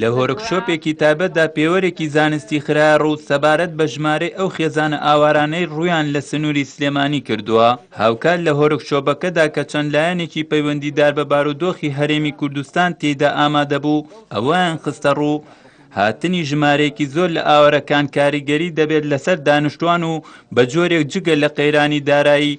لە هۆرکشۆپێکی تابەتدا پێوەرێکی زانستی خرایە ڕوو سەبارەت بە ژمارەی ئەو خێزانە ئاوارانەی ڕوویان لە سنووری سلێمانی کردووە، هاوکات لە هۆرکشۆپەکەدا کە چەند لایەنێکی پەیوەندیدار بە بارودۆخی هەرێمی کوردستان تێیدا ئامادەبوو ئەوەیان خستە ڕوو، هاتنی ژمارەیەکی زۆر لە ئاوارەکان کاریگەری دەبێت لەسەر دانیشتوان و بە جۆرێک جگە لە قەیرانی دارایی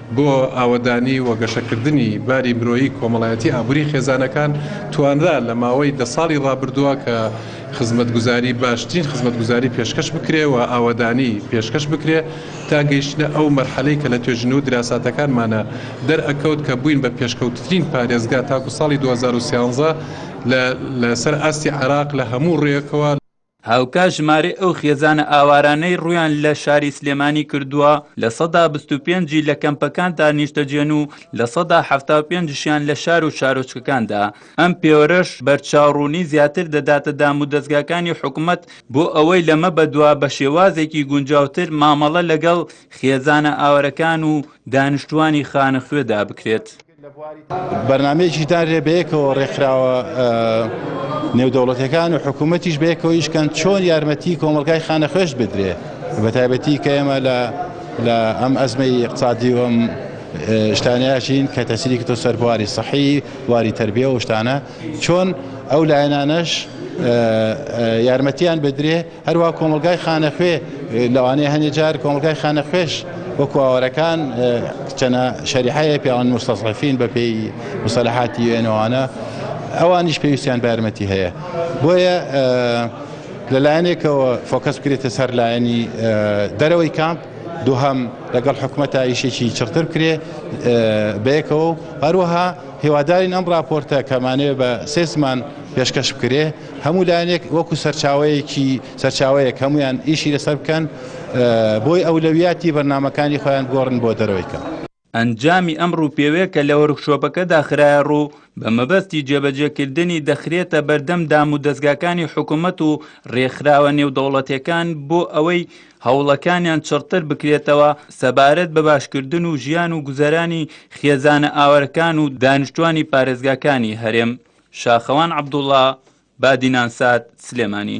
بۆ ئاوەدانی و گەشەکردنی باری مرۆیی کۆمەڵایەتی ئابوری خێزانەکان توانرا لە ماوەی دە ساڵی ڕابردوە کە خزمەتگوزاری باشترین خزمەتگوزاری پێشکەش بکرێ و ئاوەدانی پێشکەش بکرێ تا گەیشتنە ئەو مەرحەلەی کە لە توێژینە و دراساتەکانمانە دەر ئەکەوت کە بوین بە پێشکەوتترین پارێزگا تاکو ساڵی دوو هەزار و سیانزە لە لە سەر ئاستی عێراق لە هەموو ڕوێکەوە هاوکات ژمارەی ئەو خێزانە ئاوارانەی ڕوویان لە شاری سلێمانی کردووە لە سەدا بیست و پێنج ی لە کەمپەکاندا نیشتەجێن و لە سەدا حەفتا و پێنج شیان لە شار و شارۆچکەکاندا ئەم پێوەرەش بەرچاوڕوونی زیاتر دەداتە دامودەزگاکانی حکومەت بۆ ئەوەی لەمەبەدوا بە شێوازێکی گونجاوتر مامەڵە لەگەڵ خێزانە ئاوارەکان و دانیشتووانی خانەخوێدا بکرێت. بەرنامەیەکی دانرێ بەیەکەوە ڕێکخراوە نێودەوڵەتەکان و حکوومەتیش بەیەکەوە یشکەن چۆن یارمەتی کۆمەلگای خانەخوێش بدرێ بە تایبەتی کە ئێمە لە لە ئەم ئەزمەی اقتصادی و ئەم شتانیاشین کە تەسیری کە تۆ سەر بواری سەحی واری تربیە و شتانە چۆن ئەو لایەنانەش یارمەتیان بدرێ هەروا کۆمەڵگای خانەخوێ لەوانەیە هەنێ جار کۆمەڵگای خانەخوێش وەکو ئاوارەکان چەنە شەریحەیە پیاوان مستەصحفین بە پێی مسەلحاتی وێنەوانە ئەوانیش پێویستیان بارمەتی هەیە بۆیە لەلایەنێکەوە فۆکەس بکرێتە سەر لایەنی دەرەوەی کامپ دووهەم لەگەڵ حکومەتە ئیشێکی چڕتر کرێ بەیەکەوە هەروەها هێوادارین ئەم راپۆرتە کەمانەیە بە سێ زمان پێشکەش بکرێ هەموو لایەنێک وەکو سەرچاوەیەکی سەرچاوەیەک هەمویان ئیشی لەسەر بکەن بۆی ئەولەویاتی بەرنامەکانی خۆیان بگۆڕن بۆ دەرەوەی کەم. ئەنجامی ئەم ڕووپێوێ کە لە وۆرکشۆپەکەدا خرایە ڕوو بە مەبەستی جێبەجێکردنی دەخرێتە بەردەم دامودەزگاکانی حکومەت و ڕێکخراوە نێودەوڵەتێکان بۆ ئەوەی هەوڵەکانیان چڕتر بکرێتەوە سەبارەت بە باشکردن و ژیان و گوزەرانی خێزانە ئاوارەکان و دانیشتوانی پارێزگاکانی هەرێم، شاخەوان عەبدوڵا، بادینان سات، سلێمانی.